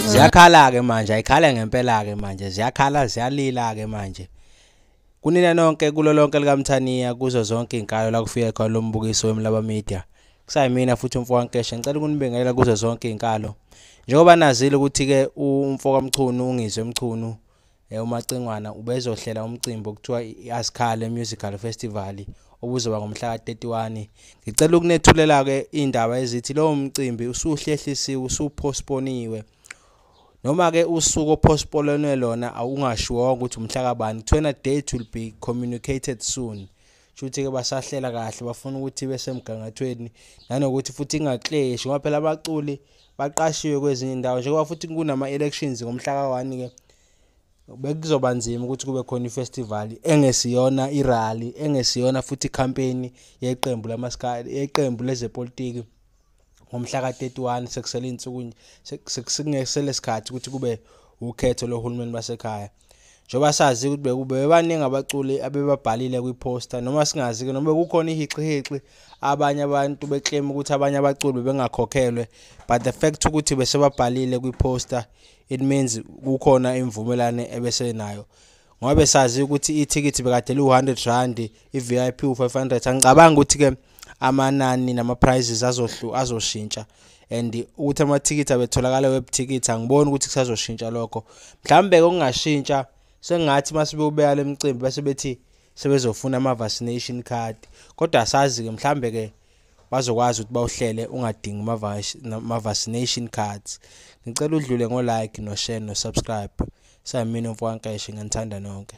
ziyakhala-ke manje ayikhala ngempela-ke manje ziyakhala ziyalila-ke manje Kunina nonke kulo lonke likaMthaniya kuzo zonke izinkalo la kufika khona lo mbukiso weMlaba Media. Kusayimina futhi umfo kaNkeshe ngicela ukunibingelela kuzo zonke izinkalo. Njengoba nazile ukuthi-ke umfo kaMchunu uNgizwe Mchunu eh, uMacingwana ubezohlela umcimbi okuthiwa i-Asikhale Musical Festival obuzoba ngomhla ka-31. Ngicela ukunethulela-ke iy'ndaba ezithi lowo mcimbi usuhlehlisiwe, usuphostponiwe. noma ke usuku ophospolonwe lona awungashiwonga ukuthi umhla kabani kuthiwena date will be communicated soon shuthi ke basahlela kahle bafuna ukuthi besemgangathweni nanokuthi futhi ingakleshi ngoba phela abaculi baqashiwe kwezinye indawo njengoba futhi kunama elections ngomhla ka-1 ke bekuzoba nzima ukuthi kube khona ifestival engesiyona irally engesiyona futhi icampaign yeqembu lamaskali yeqembu lezepolitiki ngomhla ka-31 sekusele iy'nsuku sekungesele sikhathi ukuthi kube ukhetho lohulumeni basekhaya njengoba sazi ukuthi bekube bebaningi abaculi abebabhalile kwiposta noma singazi-ke noma bekukhona ihixihixi abanye abantu beclaim ukuthi abanye abaculi bengakhokhelwe but the fact ukuthi besebabhalile kwiposta it means kukhona imvumelane ebesenayo ngoba besazi ukuthi ithikithi bekade liwu-100 rand i-vip u-500 angicabanga ukuthi-ke amanani nama-prizes azoshintsha and ukuthi amathikithi abetholakala webuthikithi angiboni ukuthi kusazoshintsha lokho mhlawumbe-ke okungashintsha sengathi uma sebewubeka le mcimbi bese bethi sebezofuna ama-vaccination card kodwa asazi-ke mhlawumbe-ke bazokwazi ukuthi bawuhlele ungadingi ma-vaccination cards ngicela udlule ngo-like no-share no-subscribe sayimina umfokankeshe nganithanda nonke